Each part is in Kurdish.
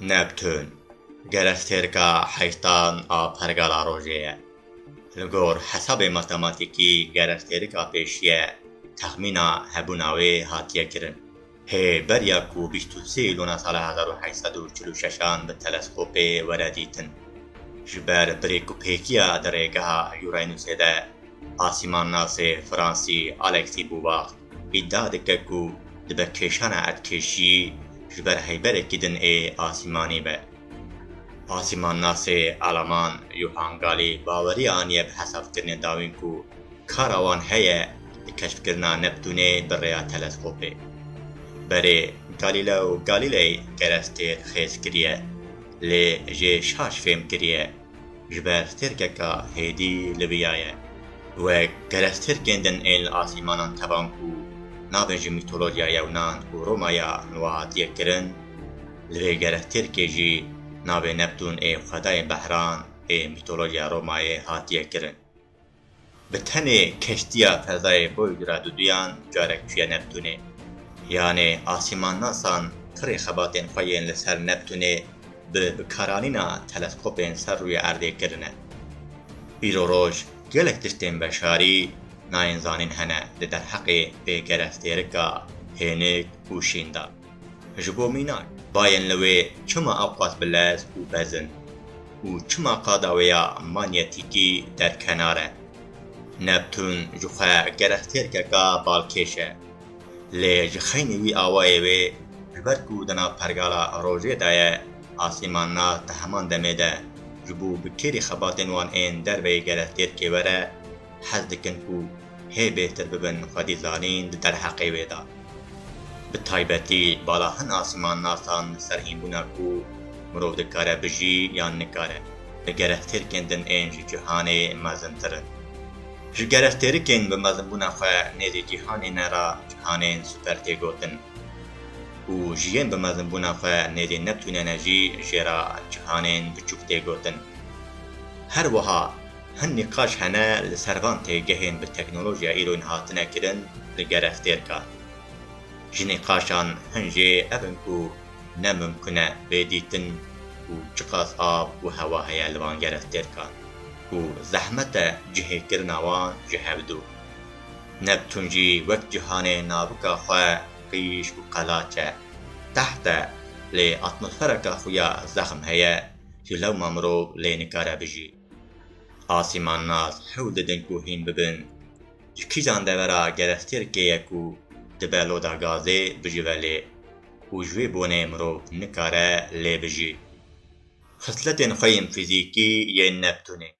Neptun, gerestêrka heyştan a pergala rojê ye. Li gor hesabê matematîkî gerestêrika pêşî ye, texmîna hebûna wê hatiye kirin. Hê beriya ku bîst û sê Îlûna sala hezar û heşt sed û çil û şeş an bi teleskopê were dîtin. Ji ber birêkûpêkiya di rêgeha Uranusê de asîmannasê fransî Alexis Bouvard Îdia dike ku dibe kêşana erdkêşî ji ber heyberekî din ê asîmanî be. Asîmannasê eleman Johan Galî baweriya aniye bi hesabkirinên dawîn ku kara wan heye di keşfkirina Neptûnê bi rêya teleskopê. Berê Galîleo Galîley kerestê xêz kiriye lê jê şaş fêm kiriye. ji ber tirkeka hêdî li viya ye. Wek kerez tirkên din ên li asîmanan tevan ku navên ji mîtolojiya yewnan û romaya nuhatiyê kirin, li vê kerez tirkê jî navê Neptûn ê xwedayên behran ê mîtolojiya romayê hatiye kirin. Bi tenê keştiya fezayê Voyager-a duduyan carek çûye Neptûnê. Yanê asîmannasan pirê xebatên xwe yên li ser Neptûnê bi bikaranîna teleskopên ser rûyê erdê kirine. Îro roj gelek tiştên beşarî nayên zanîn hene li derheqê pêgerestêrika hênik û şîndan. Ji bo mînak, dayên li wê çima awqas bilez û bez in û çima qada wê ya manyetîkî derkenar e? Neptûn ji xwe gerek têrkeka balkêş e, lê ji xeynî wî awayê wê ji ber ku di nav pergala rojê de ye, asîmannas di heman demê de ji bo bi kêrî xebatên wan ên derveyî gerek têrkê were, hez dikin ku hê bêhtir bibin xwedî zanîn di derheqê wê de. Bi taybetî bala hin asimannasand li ser hînbûna ku mirov dikare bijî yan nikare, li gerestêrkên din ên ji cîhanê mezintir in. Ji gerestêrikên bi mezinbûna xwe nêzî cîhanê ne re cîhanên super tê gotin û ji yên bi mezinbûna xwe nêzî Neptûne ne jî jê re cîhanên biçûk tê gotin. Her wiha Hin nîqaş hene li ser van têgehên bi teknolojiya îronyî hatine kirin li gerestêrkan. Ji nîqaşan hin jê ev in ku ne mimkun e bê dîtin ku çiqas av û hewa heye li van gerestêrkan û zehmet e cihêkirina wan ji hev dûr. Neptûn jî wek cîhanê navika xwe qîj û qelaç e, teht e lê atmosfereka xuya zexm heye ku lewma mirov lê nikare bijî. Asîman nas hewl didin ku hîn bibin. Ji kîjan devera gerestêrkê ye ku dibe loda gazê bijive lê û ji wê bonê mirov nikare lê bijî. Xisletên xwe yên fîzîkî yên Neptûnê.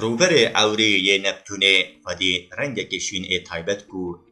Rûberê ewrî yê Neptûnê xwedî rengekî şîn ê taybet ku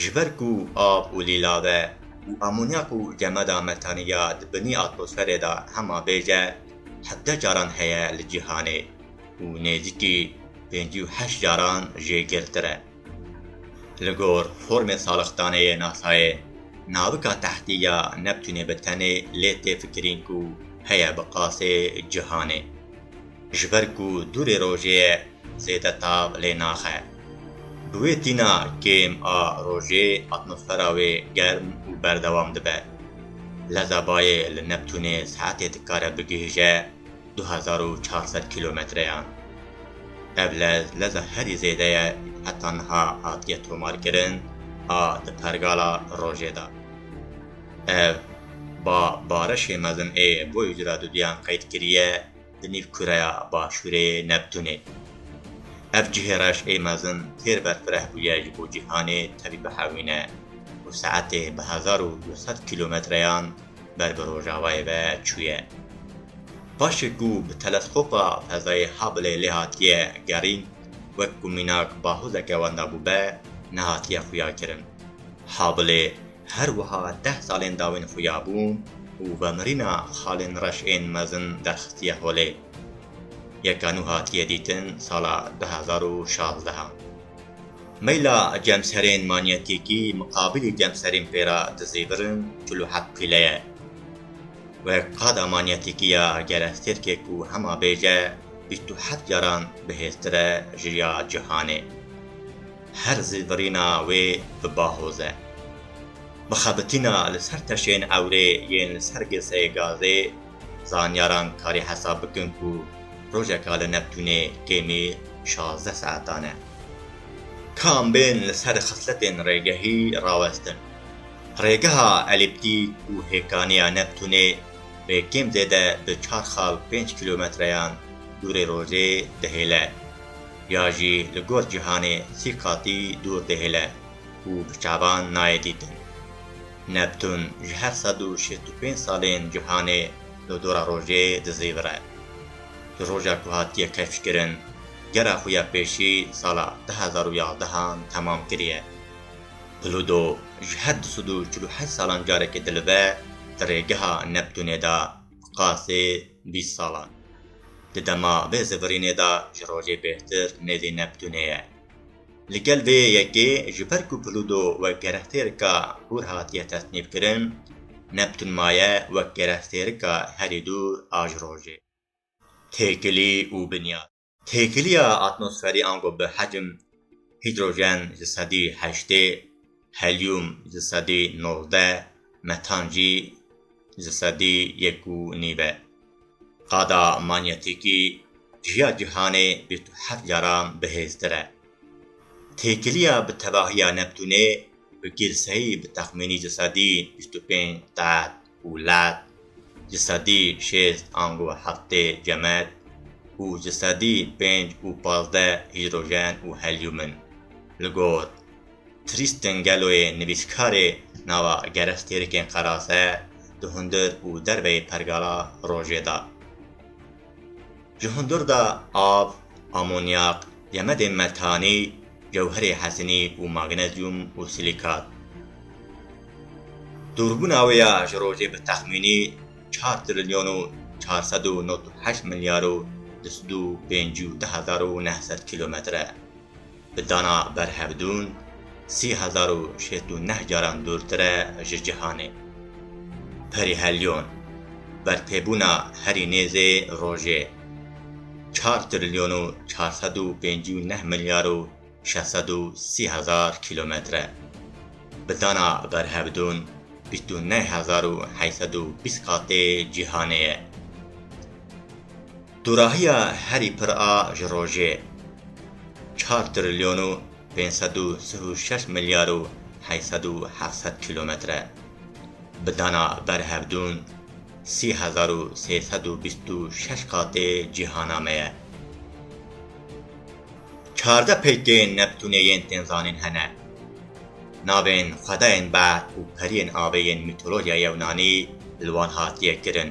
Ji ber ku av û lîlave û amonyak û gemeda metanî ya di binî atmosferê de hema bêj e, hevdeh caran heye li cîhanê û nêzîkî pêncî û heşt caran jê girtir e. Li gor formê salixdane yê NASA'yê, navika tehtî ya Neptûnê bi tenê lê tê fikirîn ku heye bi qasê cîhanê. Ji ber ku dûrê rojê ye zêde tav lê naxe. Bi wê tîna kêm a rojê atmosfera wê germ û berdewam dibe. Leza bayê li Neptûnê saetê dikare bigihîje du hezar û çar sed kîlometreyan. Ev lez leza herî zêde ye ku heta niha hatiye tomarkirin a di pergala rojê de. Ev ba barişê mezin ê boyê cura duduyan qeyd kiriye. di nîv kureya başûrê yê Neptûnê. Ev cihê reş ê mezin têr berfireh bûye ji bo cîhanê tevî bihewîne û saetê bi hezar û du sed kîlometreyan ber bi rojavayê ve çûye. Paşê ku bi teleskopa fezayê Hubble lê hatiye gerîn wek ku mînak bahûzeke wenda bûbe, nehatiye xuyakirin. Hubble Her wiha deh salên dawîn xuya bûn û vemirîna xalên reş ên mezin derxstiye holê. Yeka nû hatiye dîtin sala du hezar û şazdeh a. Meyla cemserên manyetîkî miqabîlî cemserên pê re dizîvirin çil û heft pîle ye. Wek qada manyetîkî ya gerestêrkê ku hema bêje bîst û heft caran bihêztir e ji ya cihanê. Her zî virîna wê bi bahoz e. Bi xebitîna li ser teşên ewrê yên li ser girseyê gazê, zanyaran karî hesab bikin ku rojeka li Neptûnê kêmî şazdeh saetan e. Kam bên li ser xisletên rêgehî rawestin? Rêgeha elîptîk û hêkaniya Neptûnê bê kêm zêde bi çar xal pênc kîlometreyan dûrê rojê dihêle. ya jî li gor cîhanê sî qatî dûr dihêle û bi çavan nayê dîtin. Neptûn ji her sed û şêst û pênc salên cîhanê li dora rojê dizîvire. Ji roja ku hatiye keşfkirin, gera xwe ya pêşî sala du hezar û yazdeh an temam kiriye. Plûdo ji her du sed û çil û heşt salan carekê dilive di rêgeha Neptûnê de. Qasê bîst salan di dema vê zivirînê de ji rojê bêhtir nêzî Neptûnê ye. Li gel vê yekê ji ber ku Plûdo wek gerestêrika hûr hatiye tesnîfkirin, Neptûn maye wek gerestêrika herî dûr a ji rojê. Têkilî û binyar. Têkiliya atmosferî ango bi hecm hîdrojen ji sedî heştê, helyum ji sedî nozdeh, metan jî ji sedî yek û nîv e. Qada manyetîkî ji ya cîhanê bîst û heft caran bihêztir e. Têkiliya bi tevahiya Neptûnê bi girseyî bi texmînî ji sedî bîst û pênc qat, Wlat ji sedî şêst ango heftê cemed û ji sedî pênc û pazdeh hîdrojen û helyum in. Li gor Tristan Gelloyê nivîskarê nava gerestêrikên qerase di hundir û derveyê pergala rojê de. Ji hundir de av, amonyak, yemedên metanî, gewherê hezinî û magnezyum û silikat. Dûrbûna wê ya ji rojê bi texmînî çar trilyon û çar sed û nod û heşt milyar û du sed û pêncî û deh hezar û neh sed kîlometre. Bi dana berhevdûn sî hezar û şêst û neh caran dûrtir e ji cîhanê. Perîhelyon, bertêbûna herî nêzê rojê, çar trilyon û çar sed û pêncî û neh milyar û şeş sed û sî hezar kîlometre e. Bi dana berhevdûn bîst û neh hezar û heyt sed û bîst qatê cîhanê ye. Dorahiya herî pir a ji rojê çar trilyon û pênc sed û sih û şeş milyar û heşt sed û heft sed kîlometr e. Bi dana ber hevdûn sî hezar û sê sed û bîst û şeş qatê cîhana me ye. Çardeh peykên Neptûnê yên tên zanîn hene. Navên xwedayên berf û periyên avê yên mîtolojya yewnanî li wan hatiye kirin.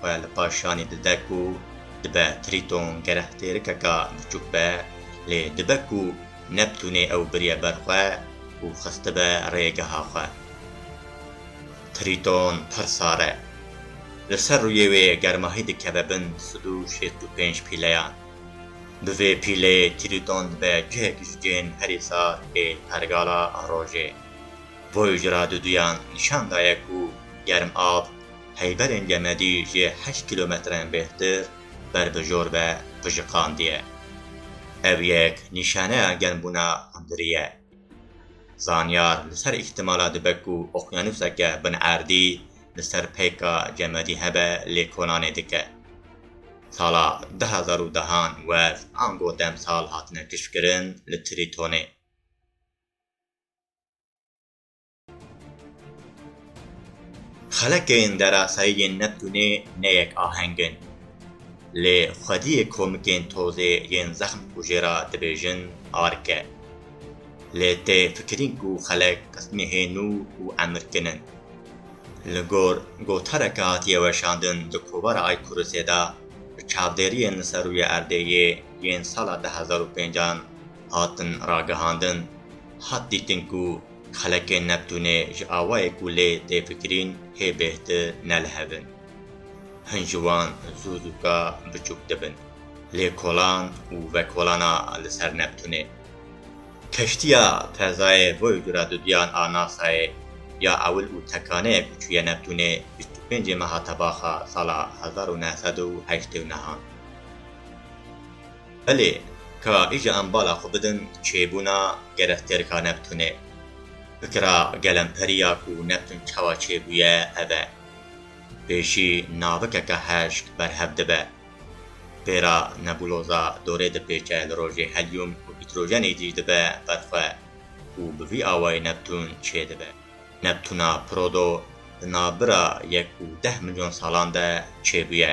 xwe li paş şanî dide ku dibe Trîton gerek têrikeka biçûk be, lê dibe ku Neptûnê ew biriye ber xwe û xistibe rê geha xwe. Trîton pir sar e. Li ser rûyê wê germahî dikeve bin sed û şêst û pênc pîleyan. Bi vê pîleyê Trîton dibe cihek ji cihên herî sar ê pergala rojê. Voyager-a duduyan nîşan daye ku germav heyberên Gemedî jê heşt kîlometrên bêhtir ber bi jor ve pijiqandiye. Ev yek nîşaneya genbûna hundirî ye. Zanyar li ser îhtimala dibe ku oqyanuseke bin erdî li ser peyka Gemedî hebe lê kolanê dike. Sala du hezar û dehan wez ango demsal hatine kişkirin li Trîtonê. Xelekên derasayî yên Neptûnê ne yek aheng in. Lê xwediyê komikên tozê yên zexm kujê ra dibêjin ark e. Lê tê fikirîn ku xelek qismê hê nû û emirkin in. Li gor gotareke hatiye weşandin di kovara Aykurusê de bi çavdêriyên li ser rûyê erdê yê yên sala du hezar û pênc an hatin ragihandin, hat dîtin ku Xelekên Neptûnê ji awayê ku lê tê fikirîn hê bêhti ne li hev in. Hin ji wan zû zûka biçûk dibin. Lê kolan û vekolana li ser Neptûnê. Keştiya fezayê boy dura duduyan a NASA'yê ya ewil û tekaneyê ku çûye Neptûnê bîst û pêncê meha tebaxa sala hezar û neh sed û heştê û nehan. Belê, ka îja em bala xwe bidin çêbûna gereftêrka Neptûnê. Fikira gelemperîya ku Neptûn çawa çêbûye ev e. Pêşî navikeke heşk berhev dibe. Pêra nebuloza dorê dipêçe li rojê helyûm û hîdrojenê cî dibe ber xwe û bi vî awayî Neptûn çêdibe. Neptûna Prodo di navbira yek û deh milyon salan de çêbûye.